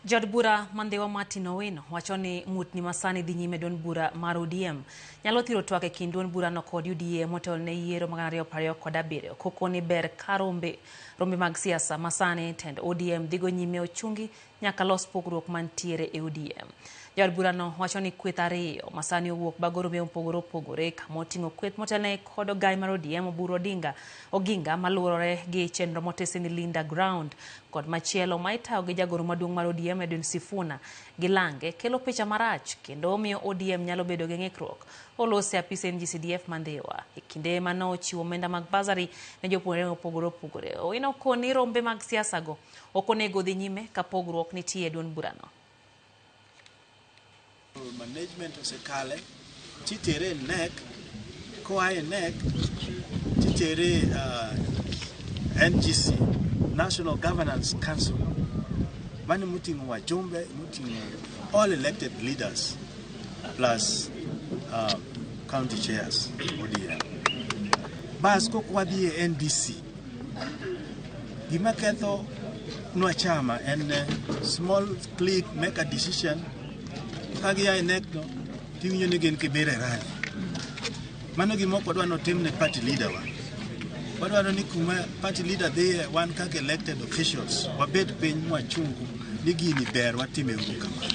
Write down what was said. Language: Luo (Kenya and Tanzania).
Jaod bura ma Ndhiwa Martin Owino wacho ni ng'utni ma sani dhi nyime duond bura mar ODM nyalo thiro twak e kind duond burano kod UDA motelo ne yiero mag 2027 koko ni ber ka rombe rombe mag siasa ma sani tend ODM dhigo nyime ochungi nyaka los pogruok mantiere e ODM. Jaod burano wacho ni kweth ariyo ma sani owuok bago rombe mopogore opogore kama oting'o kweth motelne kod ogai mar ODM Oburu Odinga Oginga maluorore gi chenro motisi ni Linda Ground kod machielo ma itayo gi jagoro maduong' mar ODM Edwin Sifuna gi Lange kelo picha marach kendo omiyo ODM nyalo bedo gi ng'ikruok. Olos e apise NGCDF ma Ndhiwa e kinde ma nochiwo omenda mag bursary ne jopuonjre mopogore opogore. Owino koni rombe mag siasago ok onego odhi nyime ka pogruok nitie e duond burano. management osekale titere e NEC koa e NEC titere uh, NGC National Governance Council mane moting'o wajumbe moting'o all elected leaders plus uh, county chairs ODM bas kok wadhi e NDC Gima ketho nwa chama en eh, small click make a decision ka gia e NEC to tiwinjo ni gin kibira e rally. Mano gima ok wadwa notim ne party leader wa. Wadwaro ni kuma party leader dhiye wan kaka elected officials wabed piny mwachungu ni gini ber watime uru kamano.